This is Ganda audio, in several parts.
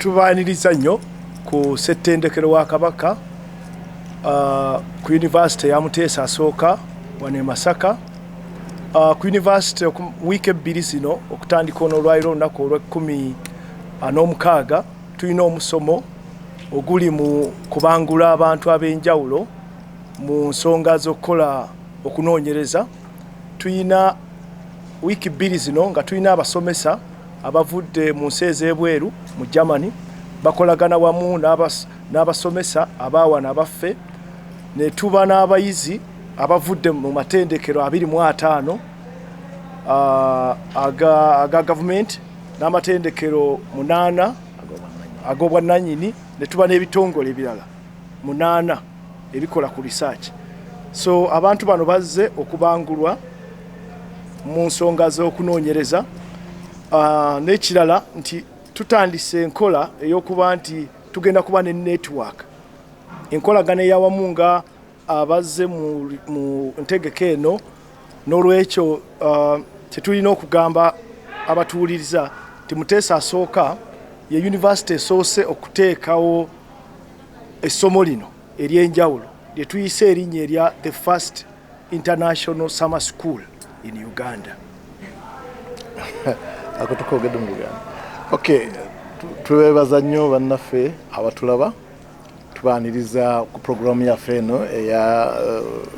tubaaniriza nnyo ku settendekero wa kabaka uh, ku yunivasite ya muteesa asooka wano e masaka uh, ku yunivasite wiiki ebbiri zino okutandika ono olwaliro olunaku olwekumi uh, n'omukaaga tulina omusomo oguli mu kubangula abantu ab'enjawulo mu nsonga z'okukola okunoonyereza tulina wiiki bbiri zino nga tulina abasomesa abavudde mu nsi ez'ebweru mu germany bakolagana wamu n'abasomesa abaawana abaffe ne tuba n'abayizi abavudde mu matendekero abiri mu ataano aga gavumenti n'amatendekero munaana ag'obwannanyini ne tuba n'ebitongole ebirala munaana ebikola ku research so abantu bano bazze okubangulwa mu nsonga z'okunoonyereza ah, n'ekirala nti tutandise enkola ey'okuba nti tugenda kuba ne network enkolagana eyawamu nga abazze mu ntegeka eno n'olwekyo uh, kyetulina okugamba abatuwuliriza nti muteesa asooka ye yunivasite esoose okuteekawo essomo lino ery'enjawulo lye tuyise erinnya erya the first international summer school in uganda ako tukogedde mu uganda okay twebaza nnyo bannaffe abatulaba tubaniriza ku pulogulaamu yaffe eno eya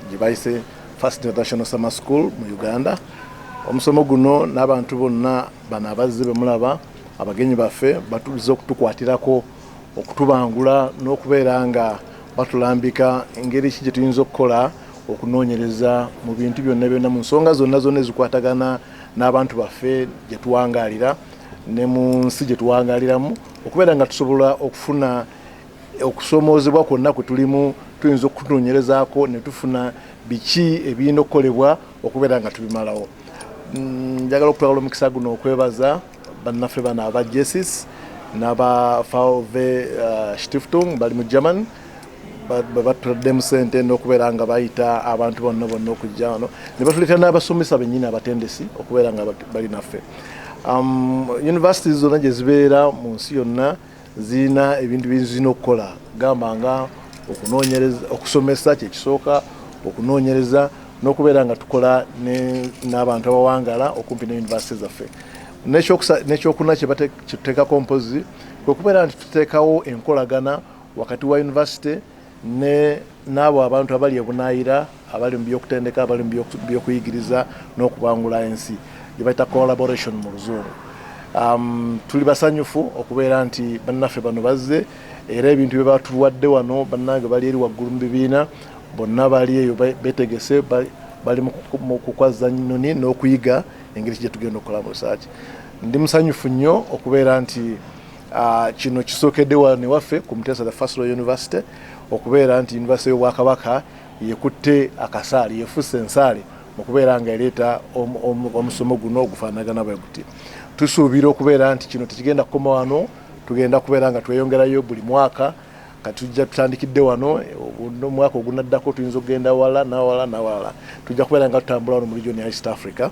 gye eh, bayise first international summer school mu uganda omusomo guno n'abantu bonna bano abazze bemulaba abagenyi baffe batuliza okutukwatirako okutubangula n'okubeera nga batulambika engeri ki gye tuyinza okukola okunoonyereza mu bintu byonna byonna mu nsonga zonna zonna ezikwatagana n'abantu baffe gye tuwangalira ne mu nsi gye tuwangaliramu okubeera nga tusobola okufuna okusoomoozebwa kwonna kwe tulimu tuyinza okutunoonyerezaako ne tufuna biki ebirina okukolebwa okubeera nga tubimalawo mm, njagala okutwala omukisa guno okwebaza bannaffe bano aba jesus n'aba fave uh, stiftung bali mu german batuladdemu sente n'okubeera nga bayita abantu bonna bonna okujja wano ne batuleetera n'abasomesa bennyini abatendesi okubeera nga bali naffe um, univesity zonna gye zibeera mu nsi yonna zirina ebintu byezirina okukola gamba nga okunoonyereza okusomesa kyekisooka okunoonyereza n'okubeera nga tukola n'abantu abawangala okumpi ne univesity zaffe nekyokuna kyetuteekako mpozi kwekubeera nti tuteekawo enkolagana wakati wa yunivasite ne n'abo abantu abali ebunaayira abali mu byokutendeka abali mu byokuyigiriza n'okubangula ensi gye bayita collaboration mu luzungu um, tuli basanyufu okubeera nti bannaffe bano bazze era ebintu bye batuwadde wano bannange bali eri waggulu mu bibiina bonna bali eyo betegese bali mu kukwazza nyinoni n'okuyiga engeri kigye tugenda okukolamu risaaki ndi musanyufu nnyo okubeera nti Uh, kino kisookedde wano ewaffe ku Muteesa the First Royal University okubeera nti yunivasite y'Obwakabaka yekutte akasaali yefusse ensaale mu kubeera nga ereeta omusomo guno ogufaanagana bwe guti tusuubira okubeera nti kino tekigenda kukoma wano tugenda kubeera nga tweyongerayo buli mwaka katujja tutandikidde wano omwaka ogunaddako tuyinza okugenda wala nawala nawala tujja kubeera nga tutambula wano mu region ya east africa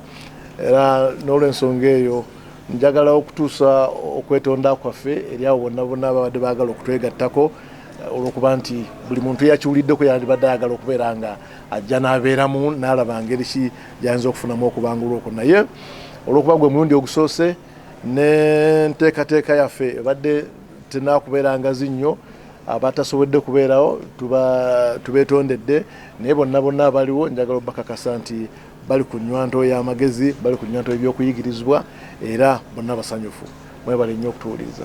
era n'olwensonga eyo Njagala okutuusa okwetonda kwaffe eri abo bonna bonna ababadde baagala okutwegattako eh, olw'okuba nti buli muntu eyakiwuliddeko yandibadde ayagala okubeera nga ajja n'abeeramu n'alaba ngeri ki gy'ayinza okufunamu okubangulwa okwo naye olw'okuba gwe mulundi ogusoose n'enteekateeka yaffe ebadde tenaakubeera ngazi nnyo abatasobodde kubeerawo tubeetondedde naye bonna bonna abaliwo njagala obakakasa nti Bali ku nnywanto ya magezi, bali ku nnywanto y'ebyokuyigirizibwa era bonna basanyufu. Mwebale nnyo okutuwuliriza.